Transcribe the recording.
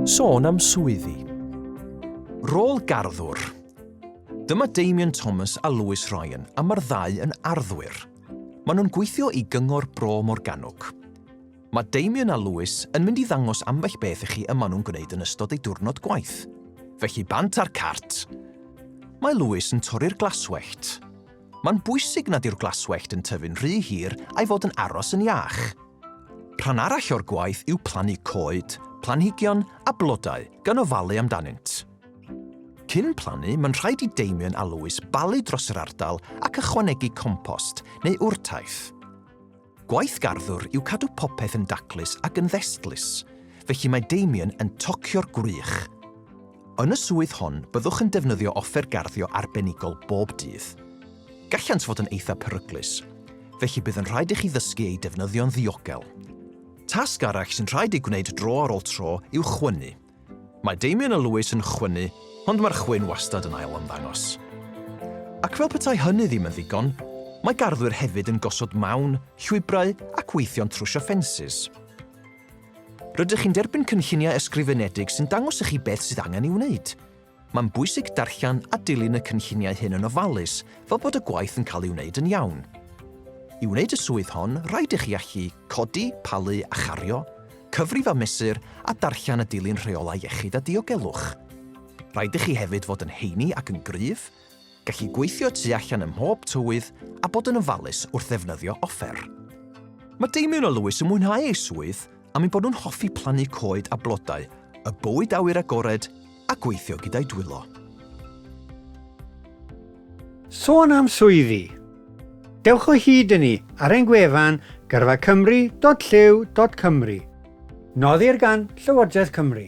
Sôn am swyddi. Rôl garddwr. Dyma Damian Thomas a Lewis Ryan a mae'r ddau yn arddwyr. Maen nhw'n gweithio i Gyngor Bro Morgannwg. Mae Damian a Lewis yn mynd i ddangos ambell beth i chi y maen nhw'n gwneud yn ystod ei diwrnod gwaith. Felly bant ar cart! Mae Lewis yn torri'r glaswellt. Mae'n bwysig nad yw'r glaswellt yn tyfu'n rhy hir a'i fod yn aros yn iach. Rhan arall o'r gwaith yw plannu coed, planhigion a blodau gan ofalu amdanynt. Cyn plannu, mae'n rhaid i Damien a Lewis balu dros yr ardal ac ychwanegu compost neu wrtaith. Gwaith garddwr yw cadw popeth yn daclus ac yn ddestlus, felly mae Damien yn tocio'r gwrych. Yn y swydd hon, byddwch yn defnyddio offer garddio arbenigol bob dydd. Gallant fod yn eithaf peryglus, felly bydd yn rhaid i chi ddysgu eu defnyddio'n ddiogel. Tasg arall sy'n rhaid ei gwneud dro ar ôl tro yw chwynnu. Mae Damien a Lewis yn chwynnu, ond mae'r chwyn wastad yn ail-ymddangos. Ac fel petai hynny ddim yn ddigon, mae garddwyr hefyd yn gosod mawn, llwybrau ac weithio'n trwsio ffensys. Rydych chi'n derbyn cynlluniau ysgrifenedig sy'n dangos i chi beth sydd angen ei wneud. Mae'n bwysig darllen a dilyn y cynlluniau hyn yn ofalus fel bod y gwaith yn cael ei wneud yn iawn. I wneud y swydd hon, rhaid i chi allu codi, palu a chario, cyfrif a mesur a darllen a dilyn rheolau iechyd a diogelwch. Rhaid i chi hefyd fod yn heini ac yn gryf, Gallu gweithio tu allan ym mhob tywydd a bod yn ofalus wrth ddefnyddio offer. Mae Damien a Lewis yn mwynhau eu swydd am eu bod nhw'n hoffi plannu coed a blodau, y bywyd awyr agored a gweithio gyda'u dwylo. Sôn am swyddi! Dewch o hyd i ni ar ein gwefan gyrfacymru.llyw.cymru. Noddir gan Llywodraeth Cymru.